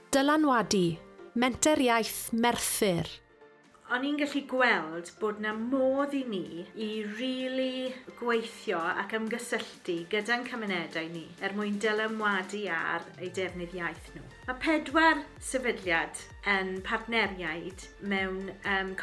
Dylanwadu, Menter Iaith Merthyr. O'n i'n gallu gweld bod 'na modd i ni i rili gweithio ac ymgysylltu gyda'n cymunedau ni er mwyn dylanwadu ar eu defnydd iaith nhw. Mae pedwar sefydliad yn partneriaid mewn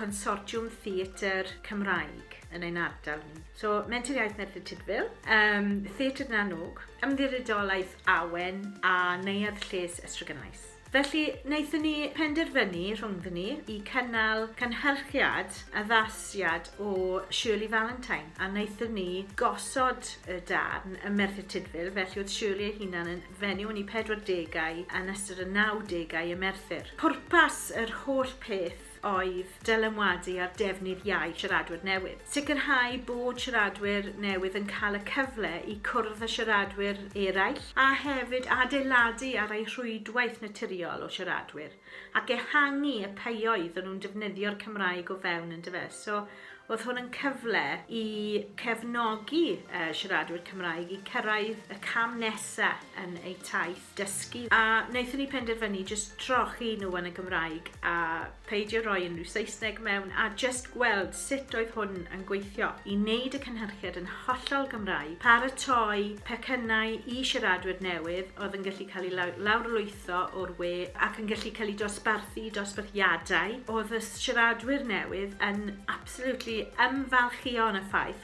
consortiwm theatr Cymraeg yn ein ardal ni. So, Menter Iaith Merthyr Tudful, um, Theatr na Nŵg, Ymddiriedolaeth Awen a Neuadd Lles Estrygynais. Felly, wnaethon ni penderfynu rhwngddyn ni i cynnal cynhyrchiad addasiad o Shirley Valentine a wnaethon ni gosod y darn y Merthyr Tudful, felly oedd Shirley ei hunan yn fenyw yn ei 40au yn ystod y 90au y Merthyr. Pwrpas yr holl peth oedd dylanwadu ar defnydd iau siaradwyr newydd. Sicrhau bod siaradwyr newydd yn cael y cyfle i cwrdd â siaradwyr eraill a hefyd adeiladu ar eu rhwydwaith naturiol o siaradwyr ac ehangu y ffioedd o'n nhw'n defnyddio'r Cymraeg o fewn yn dyfe? So oedd hwn yn cyfle i cefnogi siaradwyr Cymraeg i cyrraedd y cam nesaf yn eu taith. dysgu a naethon ni penderfynu jyst trochi nhw yn y Gymraeg a peidio roi unrhyw Saesneg mewn a jyst gweld sut oedd hwn yn gweithio i wneud y cynhyrchiad yn hollol Gymraeg, paratoi pecynnau i siaradwyr newydd oedd yn gallu cael eu lawrlwytho o'r we ac yn gallu cael eu dosbarthu i dosbarthiadau. Oedd y siaradwyr newydd yn absolutely ymfalchïo yn y ffaith